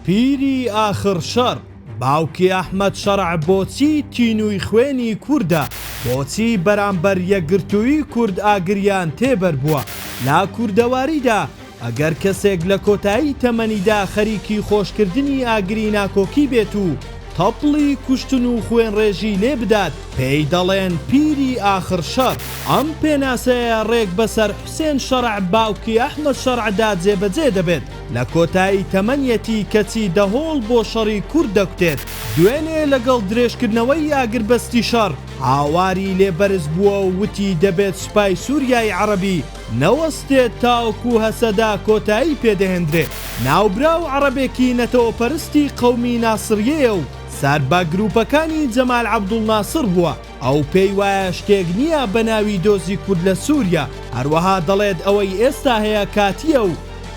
پیری ئاخر شەڕ باوکی ئەحمەد شەڕع بۆچی تینووی خوێنی کوردە بۆچی بەرامبەر یەکگرتووی کورد ئاگریان تێبەربووە لە کوردەواریدا ئەگەر کەسێک لە کۆتایی تەمەنیدا خەریکی خۆشکردنی ئاگری ناکۆکی بێت و تەپڵی کوشتن و خوێنڕێژی لێ بدات پێی دەڵێن پیری ئاخر شەڕ ئەم پێناسەیە ڕێک بەسەر حوسێن شەڕع باوکی ئەحمەد شەڕعدا جێبەجێ دەبێت. لە کۆتایی تەمەنیەتی کەچی دەهۆڵ بۆ شەڕی کورد دەکوتێت، دوێنێ لەگەڵ درێژکردنەوەی ئاگربەستی شەڕ هاواری لێ بەرز بووە و وتی دەبێت سوپای سوریای عەڕەبی نەوەستێت تاوەکو هەسەدە کۆتایی پێ دەهێندرێت، ناوبراو عەڕەبێکی نەتەوەپەرستی قەومی ناسڕیەیە و سەر بە گروپەکانی جەمال عەبدوڵناسڕ بووە. ئەو پێی وایە شتێک نییە بە ناوی دۆزی کورد لە سووریا، هەروەها دەڵێت ئەوەی ئێستا هەیە کاتییە و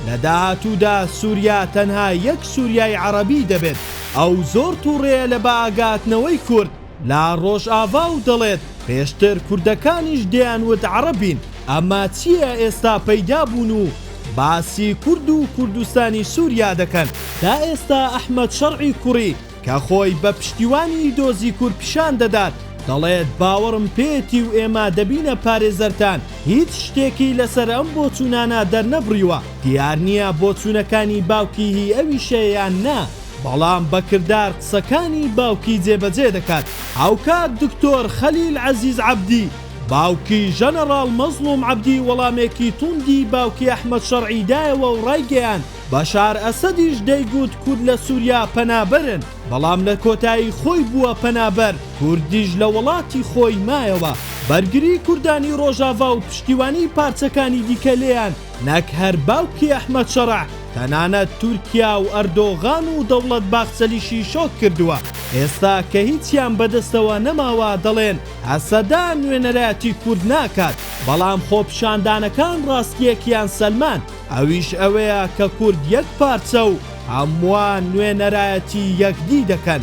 لە داهاتوودا سووریا تەنها یەک سووریای عەڕەبی دەبێت. ئەو زۆر تووڕەیە لە بەئاگاتنەوەی کورد لە ڕۆژاڤا و دەڵێت پێشتر کوردەکانیش دەیانوت عەڕەبین، ئەمە چییە ئێستا پەیدا بوون و باسی کورد و کوردستانی سووریا دەکەن. تا ئێستا ئەحمەد شەڕعی کوڕی کە خۆی بە پشتیوانی دۆزی کورد پیشان دەدات، دەڵێت باوەڕم پێیەتی و ئێمە دەبینە پارێزەرتان، هیچ شتێکی لەسەر ئەم بۆچوونانە دەرنەبڕیوە، دیار نییە بۆچوونەکانی باوکی هی ئەویشە یان نا، بەڵام بە کردار قسەکانی باوکی جێبەجێ دەکات. هاوکات دکتۆر خەلیل عەزیز عەبدی، باوکی ژەنەڕاڵ مەزڵوم عەبدی وەڵامێکی توندی باوکی ئەحمەد شەرعی دایەوە و ڕایگەیاند، بەشار ئەسەدیش دەیگوت کورد لە سوریا پەنابەرن، بەڵام لە کۆتایی خۆی بووە پەنابەر، کوردیش لە وەڵاتی خۆی مایەوە، بەرگری کوردانی ڕۆژاڤا و پشتیوانی پارچەکانی دیکە لێیان، نەک هەر باوکی ئەحمەد شەرع، تەنانەت تورکیا و ئەردۆغان و دەوڵەت باخچەلیشی شۆک کردووە، ئێستا کە هیچیان بەدەستەوە نەماوە دەڵێن هەسەدە نوێنەرایەتی کورد ناکات، بەڵام خۆپیشاندانەکان ڕاستییەکیان سەلماند. ئەویش ئەوەیە کە کورد یەک پارچە و هەمووان نوێنەرایەتی یەکدی دەکەن.